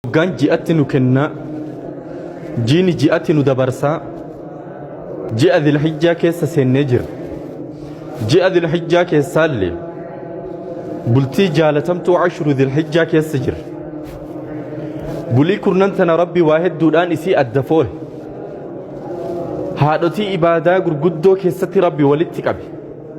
Waggaan ji'atti nu kennaa, jiini ji'atti nu dabarsaa, ji'a Zilhijjaa keessa seennee jirra. Ji'a Zilhijjaa keessaallee bultii jaalatamtuu ashuru Zilhijjaa keessa jirra. Bulii kurnan tana Rabbi waa hedduudhaan isii adda foole. Haadhotii ibaadaa gurguddoo keessatti Rabbi walitti qabe.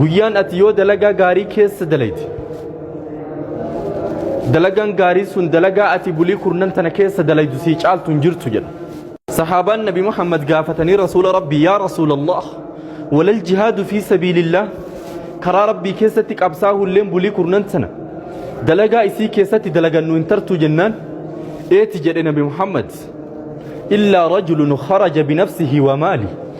guyyaan ati yoo dalagaa gaarii keessa dalayte dalagaan gaarii sun dalagaa ati bulii kurnan tana keessa dalaydu sii caaltu hin jirtu jedha sahaabaan nabi muhammad gaafatanii rasuula rabbii yaa rasuula allah walal jihaadu fi sabiilillah karaa rabbii keessatti qabsaahulleen bulii kurnan tana dalagaa isii keessatti dalagannu hin tartu jennaan eeti jedhe nabi muhammad illaa rajulun kharaja binafsihi wa maali